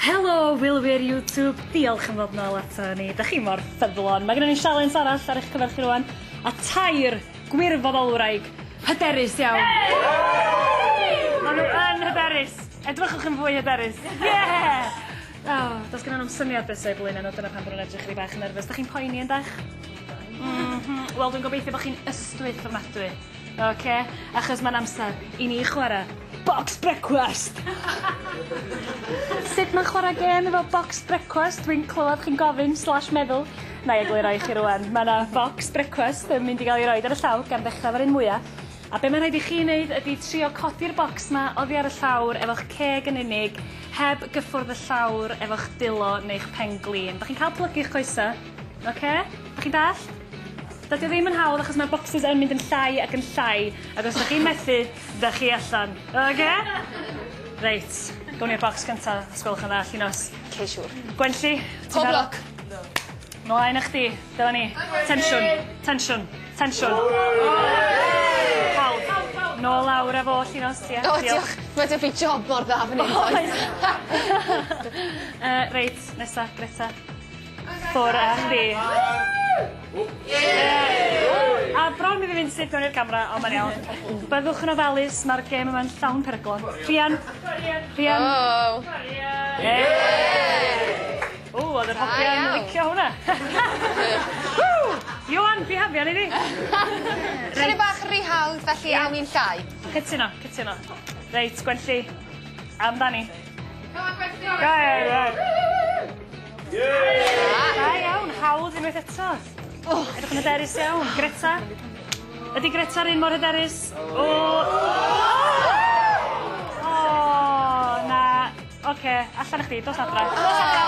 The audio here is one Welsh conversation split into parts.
Helo, wylwyr YouTube, diolch am fod nôl ato ni. Da chi mor ffyddlon. Mae gennym ni sialens arall ar eich cyfer chi rwan, a tair gwirfoddolwraig hyderus iawn. Maen nhw yn hyderus. Edrychwch yn fwy hyderus. Yeah! Oh, does gen nhw'n syniad beth sy'n blaen nhw, dyna pan bod nhw'n edrych i bach yn nerfus. Da chi'n poeni yn dach? Mm -hmm. Wel, dwi'n gobeithio bod chi'n ystwyth ofnadwy. Ok, achos mae'n amser i ni chwara box brecwast! Sut mae'n chwara gêm efo box brecwast, dwi'n clywed chi'n gofyn slash meddwl? Nai egluro i chi rŵan, ma' 'na focs brecwast yn mynd i ga'l 'i roid ar y llawr gan ddechra efo'r un mwya, a be' ma' rhaid i chi neud ydi trio codi'r bocs 'ma oddi ar y llawr efo'ch ceg yn unig, heb gyffwrdd y llawr efo'ch dwylo neu'ch pen-glin. 'Dach chi'n ca'l plygu 'ych coese? Ok? 'Dach chi'n dallt? Dydy o ddim yn hawdd achos mae'r bocsys yn mynd yn llai ac yn llai ac os 'dach chi'n methu, 'dach chi allan. Oce? Reit, gown ni'r bocs gynta os gwelwch yn dda, Llinos. Oce, siŵr. Gwenlli, ti'n barod? Pob lwc. Diolch. Mlaen â chdi. Dyma ni. Tensiwn. Tensiwn. Tensiwn. Hawdd. Nôl lawr â fo, Llinos, ie. O, diolch. Mae 'da fi job mor dda fan 'yn does? Oes. Yy reit, nesa, Greta. Ffwr a chdi. A bron i fi mynd syth mewn i'r camera, ond mae'n iawn. Byddwch yn ofalus, mae'r gêm yma'n llawn peryglon. Rhian? Rhian? Oh. O, oedd yr hogiau yn licio hwnna. Iwan, bihafian i ni. Reit. bach rhy hawdd, felly awn ni'n llai. Cytuno, cytuno. Reit, Gwenlli, amdani. Go on, Gwenlli. Go on, Gwenlli. Da iawn, hawdd unwaith eto. Oh, edrych yn hyderus iawn. Greta? Ydy Greta'r un mor hyderus? O! O, na. Oce, allan chdi, dos adra. Dos adra.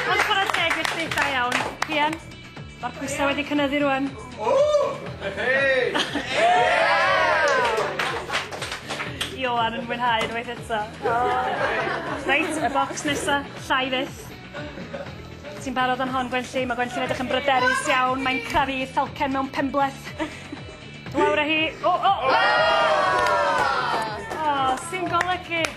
Ond chwarae teg i chdi, da iawn. Pian? Mae'r pwysau wedi cynyddu rwan. Ioan yn mwynhau unwaith eto. Reit, y bocs nesa, llai fyth. Ti'n barod am hon, Gwenlli? Mae Gwenlli'n edrych yn bryderus iawn. Mae'n crafu falcen mewn penbleth. Lawr â hi. O, o! O, sy'n golygu?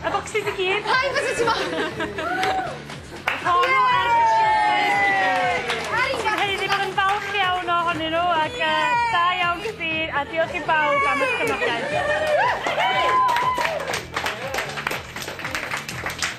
Y bocsys i gyd. Paid byse ti mo'yn! Helo yn falch iawn ohonyn nhw ac da iawn chdi a diolch i bawb am y cefnogaeth.